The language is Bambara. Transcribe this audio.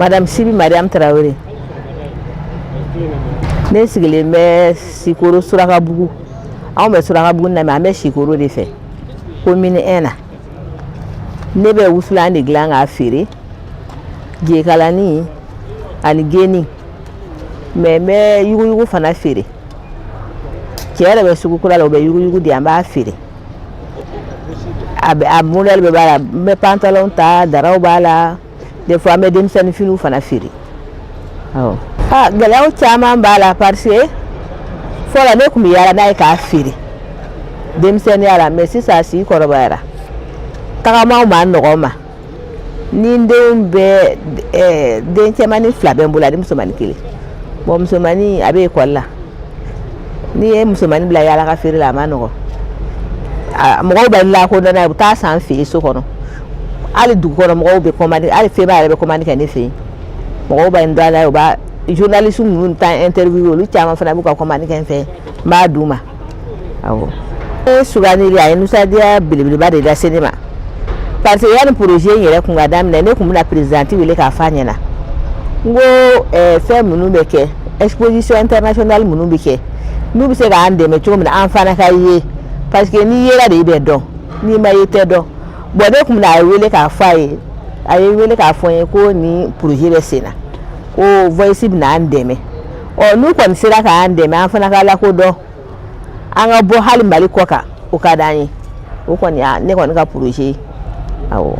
Madame Sibi Mariam Traoré ne sigilen bɛ Sikoro Surakabugu anw bɛ Surakabugu na mais an bɛ Sikoro de fɛ commune 1 na ne bɛ wusulan de dilan k'a feere jekalani ani geni mais n bɛ yuguyugu fana feere cɛ yɛrɛ bɛ sugu kura la o bɛ yuguyugu di an b'a feere a bɛ a modèle bɛɛ b'a la n bɛ pantalon ta daraw b'a la des fois an bɛ denmisɛnnin finiw fana feere awɔ aa gɛlɛyaw caman b'a la parce que fɔlɔ ne tun bɛ yaala n'a ye k'a feere denmisɛnninya la mais sisan a si kɔrɔbayara tagamaw man nɔgɔn n ma ni n denw bɛ ɛɛ den cɛmannin fila bɛ n bolo ani musomannin kelen bon musomannin a bɛ ekɔli la n'i ye musomannin bila yaala ka feere la a man nɔgɔn a mɔgɔw bɛ n lakodɔn n'a ye u bɛ t'a san n fɛ yen so kɔnɔ. hali dugu kɔnɔ mɔgɔw bɛ kɔmandi hali feba yɛrɛ bɛ kɔmandi kɛ ne fɛ yen mɔgɔw bɛ n dɔn a la u b'a journaliste ninnu ta interview olu caman fana b'u ka kɔmandi kɛ n fɛ n b'a d'u ma awɔ ne sugandili a ye nisɔndiya belebeleba de lase ne ma parce que yanni projet in yɛrɛ kun ka daminɛ ne tun bɛna présidente wele k'a f'a ɲɛna n ko eh, fɛn minnu bɛ kɛ exposition internationale minnu bɛ kɛ n'u bɛ se k'an dɛmɛ cogo min na an fana ka ye parce que n'i yera de i bɛ dɔn n'i ma ye i tɛ dɔn bon ne kun bɛna a wele k'a fɔ a ye a ye n wele k'a fɔ n ye ko nin projet bɛ sen na ko Voice bɛna an dɛmɛ ɔ n'u kɔni sera k'an dɛmɛ an fana ka lakodɔn an ka bɔ hali Mali kɔkan o ka d'an ye o kɔni ne kɔni ka projet ye awɔ